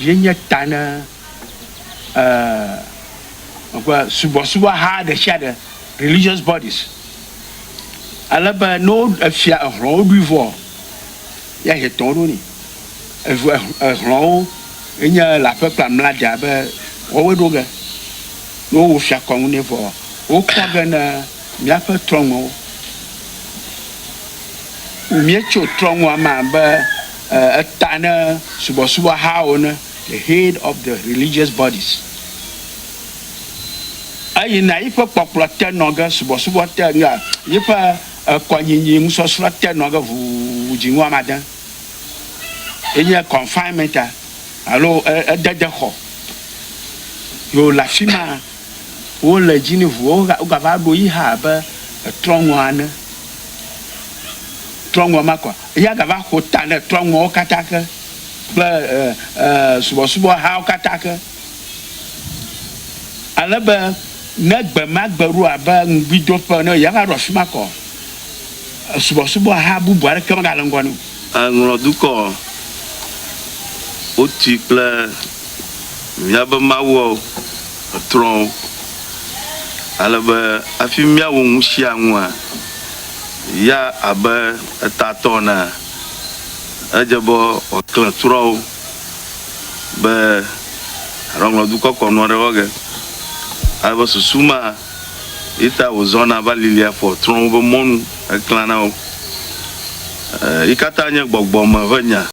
yenye ta ne eh, subɔsubɔha ɖe sia ɖe, religious bodies. Ale be ne wo efia ehlɔ̃wo ɖui vɔ, ya hetɔ ɖo ni. Evu ehlɔ̃wo enye le aƒe kple amladia be wɔwoe ɖo ge. Ne wowo fia kɔnu nɛ vɔ, wokpɔ ge ne Míaƒe trɔ̃ŋuwo. Míetso trɔ̃ŋua me abe eta ne subɔsubɔhawo ene, the head of the religious bodies. Eyina yi ƒe kpɔkplɔ te nɔ ge, subɔsubɔ te, nuya, yi ƒe kɔnyinyi nusɔsrɔ̃ te nɔ ge ʋuu dzi ŋu amade. Enye confinement alo ededexɔ. Ye wòle afi ma. wo le dzi ne ʋuwo ga wogava ɖo yi hã abe trɔ̃ŋua ene. Trɔ̃ŋua ma kɔ eya gava xo ta ne trɔ̃ŋuawo katã ke kple e e subɔsubɔhawo katã ke. Ale be ne gbe ma gbe ɖo abe ŋugbidoƒe ene eya va ɖo afi ma kɔ subɔsubɔha bubu aɖeke megale ŋgɔ nɛ o. Eŋlɔ dukɔ ɔ, wotui kple mìabe mawuɔ etrɔwo, ale be hafi mìawu ŋushiaŋua, ya abe etatɔ ene, edze be wòaklẽ trɔwo be aɖɔ ŋlɔ dukɔ kɔnuɔ ɖe wɔ ge, ale be susu ma. Yeta wòzɔna va lilia fɔ trɔ̃ woƒe mɔnu heklãna wo. Yikatã nye gbɔgbɔ me ƒe nya.